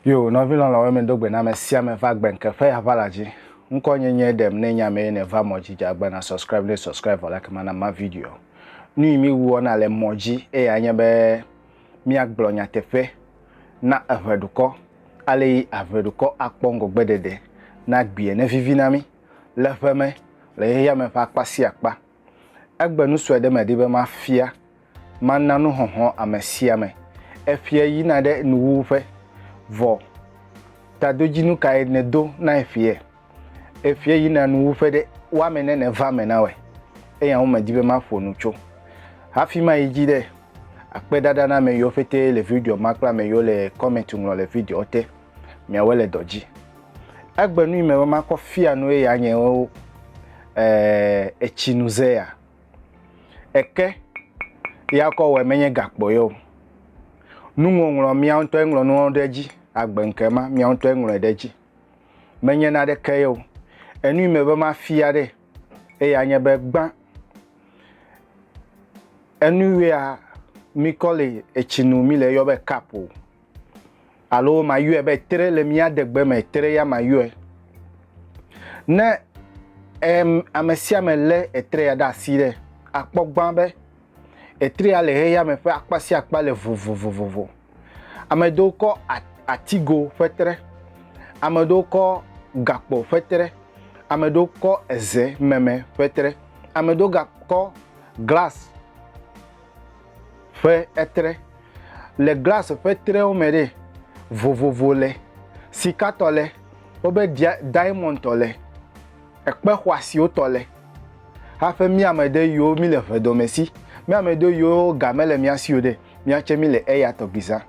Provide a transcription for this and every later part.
Yo, nɔvi lɔlɔ̃wo mi do gbe na me sia me va gbe nke ƒe ya va la dzi. Ŋkɔ nye nye ɖem ne nya me ne va mɔ dzi dza gbe na subscribe ne subscribe vɔ la kema na ma video. Nu yi mi wuɔ na le mɔ dzi eye anye be mia gblɔ nyateƒe na eʋe dukɔ ale yi aʋe dukɔ akpɔ ŋgɔgbe ɖeɖe na gbie ne vivi na mi. le ƒe me le xexea me ƒe akpa sia akpa. Egbe nu sue ɖe medi be mafia, mana nuxɔxlɔ̃ ame sia ame. Efia yina ɖe nuwuwu ƒe. Vɔ, tadodzinu kae nèdo na efia? Efia yina nuwuwu ƒe ɖe, woame ne nèva eme na wɔe. Eya ŋu medi be maƒo nu tso. Hafi mayi dzi ɖe, akpe ɖaɖa na ame yiwo ƒete le video ma kple ame yiwo le kɔmɛnt ŋlɔ le videoa te. miawe le dɔ dzi. Egbe nu yi me be makɔ fia nu ye ya nye wo eh, etsi nu ze ya. Eke ya kɔ wɔ menye gakpɔ yo. Nu ŋɔŋlɔ mia ŋutɔ ŋlɔ nu ɖe edzi agbe nke ma mia ŋutɔ ŋlɔ ɖe edzi. Menye na ɖe ke yo. Enu yi me be ma fia ɖe ye ya nye be gbã enu ya mi kɔ le etsi nu mi le yɔ be cup o. Alo mayɔe be tre le mía degbe me, tre ya mayɔe. Ne em, ame sia ame lé etre ya ɖe asi ɖe, akpɔ gbã be etre ya le xexea me ƒe akpa sia akpa le vovovovo. Ame ɖewo kɔ atigo ƒe tre, ame ɖewo kɔ gakpo ƒe tre, ame ɖewo kɔ eze meme ƒe tre, ame ɖewo gakɔ glas ƒe etre. Le glasi ƒe trewo me ɖe, vovovo le, sikatɔ le, wobe dia diamondtɔ le, ekpe xɔasiwo tɔ le. Hafi mí ame ɖe yiwo mí le ʋedɔme si, mí ame ɖe yiwo ga mele mía si o ɖe, míatse mí le eya tɔgbi zã.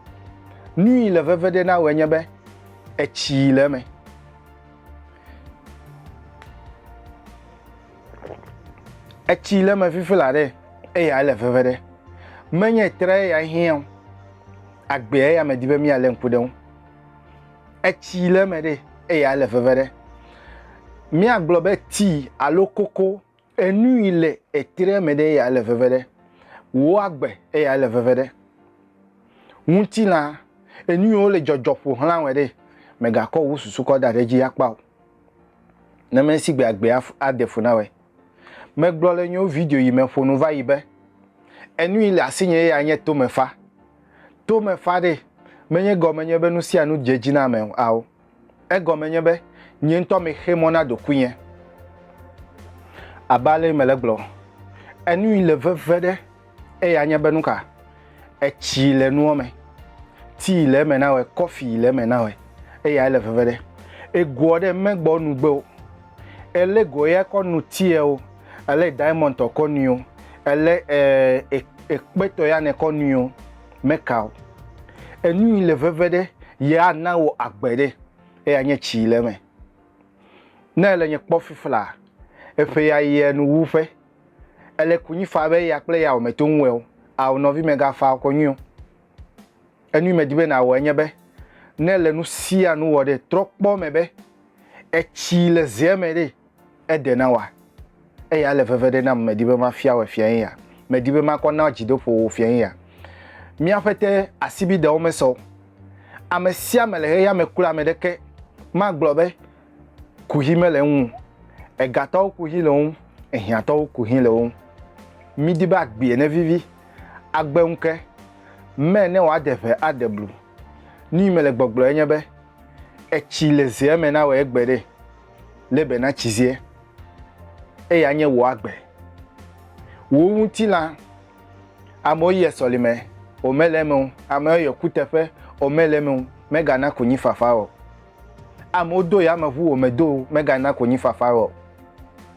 Nu yi le veve ɖe na wòe nye be etsi le eme. etsi le me fifi la ɖe eya le veve ɖe menye tre eya hiã o agbea eya me di be mia le ŋku ɖe ŋu etsi le me ɖe eya le veve ɖe mia gblɔ be ti alo koko enu yi le etre me ɖe eya le veve ɖe wo agbe eya le veve ɖe ŋutilã enu yi wo le dzɔdzɔ ƒo xlã wɔ ɖe megakɔ wo susu kɔ da ɖe dzi akpa o Ne mesi gbe agbe ade fu na wɛ. Megblɔ le nyo video yi me ƒonu va yi be, enu yi le asinye ya nye tomefa. Tomefa ɖe menye gɔme nye be nu sia nu dze dzi na ame ao. Egɔme nye be nye ŋutɔ mexe mɔ na ɖokuinye. Abe ale yi mele gblɔ, enu yi le veve ɖe. Eya nye be nuka? Etsi le nua me, tii le eme na wɔ, kɔfi le eme na wɔ, eya ele veve ɖe. Egoɔ ɖe megbɔ nugbe o. Ele goɔ ya kɔ nu tiɛ o, ele diamond tɔ kɔ nui o, ele eh, ekpetɔ ya ne kɔ nui o, meka o. Enui le veve ɖe, ye ana wɔ agbe ɖe, eya nye tsi le eme. Ne ele nye kpɔ fiflaa, eƒe ya yɛ nu wu ƒe. Ele kunyi fa be ya kple yawò me to ŋu eo, ao nɔvi mega fa kɔ nyui o. Enui me di be na wɔ enye be, ne le nu sia nu wɔ ɖe, trɔ kpɔ me be etsi le zea me ɖe, eɖe na wòa. Eya ele veve ɖe nam me di be ma fia wɔ efia ye ya. Me di be ma kɔ na dzi doƒo wò fia ye ya. Mía ƒete asibi ɖewo me sɔ o. Ame sia me le xexeame kura me ɖeke ma gblɔ be, kuxi mele eŋu o. Egatɔwo kuxi le wo ŋu, ehiãtɔwo kuxi le wo ŋu. Mídi be agbee nevivi, agbe ŋu ke, mɛ ne wòade ʋe aɖe blu. Nui mele gbɔgblɔ enye be, etsi le zea me nawɔe egbe ɖe, lé be natsi zea, eye anye wò agbe. Wò ŋutilã, amewo yɔe sɔlime, wòmele eme o, amewo yɔe kuteƒe, wòmele eme o, megana konyifafa o. Amewo do yameʋu wò me do megana konyifafa wò o.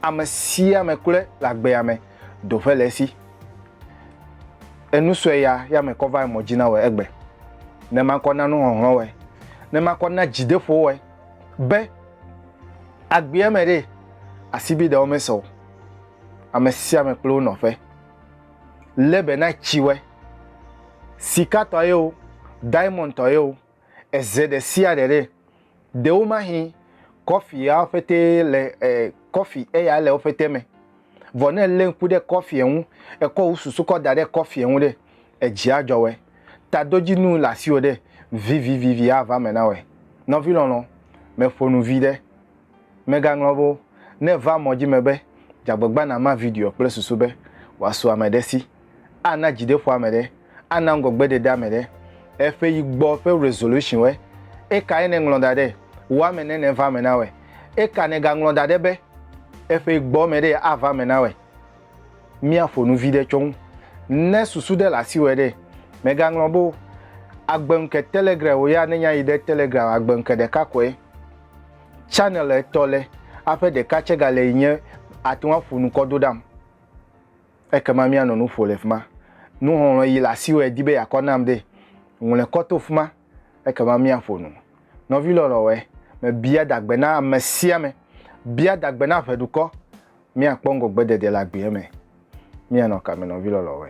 Ame sia ame kloe le agbea me do ƒe le esi. Enu sue ya yame kɔ va emɔ dzi na wòe egbe. Ne makɔ na nuhɔhlɔ̃ wòe. Ne makɔ na dzideƒo wòe. Be agbea me ɖe asibiɖewo me se o. Ame sia ame kple wo nɔƒe. Lebe na tsi wòe. Sikatɔ ye o, diamond tɔ ye o. eze ɖe sia ɖe ɖe. Ɖewo mahi kɔfi ya ƒete le e, kɔfi eya le woƒete me. Vɔ ne lé ŋku ɖe kɔfie ŋu, ekɔ wò susu kɔ da ɖe kɔfie ŋu ɖe, edzi adzɔ wɛ. Tadodzinu le asiwò ɖe, vivivivi ava me na wɛ. Nɔvi lɔlɔ, meƒo nu vi ɖe. Megaŋlɔ wo. Ne èva mɔ dzi me be, dze agbagba nàma videoa kple susu be wòasu ame ɖe si, ana dzideƒo ame ɖe, ana ŋgɔgbeɖeɖe ame ɖe, eƒe yi gbɔ ƒe resolution-woe, ekae nèŋlɔ da ɖɛ? Wò ame ne nèva eme na wɔe. Eka nègaŋlɔ da ɖɛ be, eƒe yi gbɔ ame ɖee ava eme na wɔe? Míaƒo nu viɖe tso eŋu. Ne susu ɖe le asiwòe ɖe, mègaŋlɔ be o. Agbeŋke Telegram-wò ya nenya yi ɖe Telegram agbeŋke ɖeka koe. Channel etɔ le aƒe ɖeka tse ga le yi nye ate ŋu aƒo nu kɔ do ɖam. Ekema míanɔ nu ƒo le fi ma. Nuxɔlɔ̃ yi le asiwò edi be yeakɔ nam ɖe, ŋlɔe kɔ to fi ma ekema míaƒo nu. Nɔvi lɔlɔ̃wɔe, mebia dagbe na ame sia ame. Bia dagbe na ʋeɖukɔ. Míakpɔ ŋgɔgbedede le agbeɛ me. Míanɔ kame nɔvi lɔlɔ̃wɔe?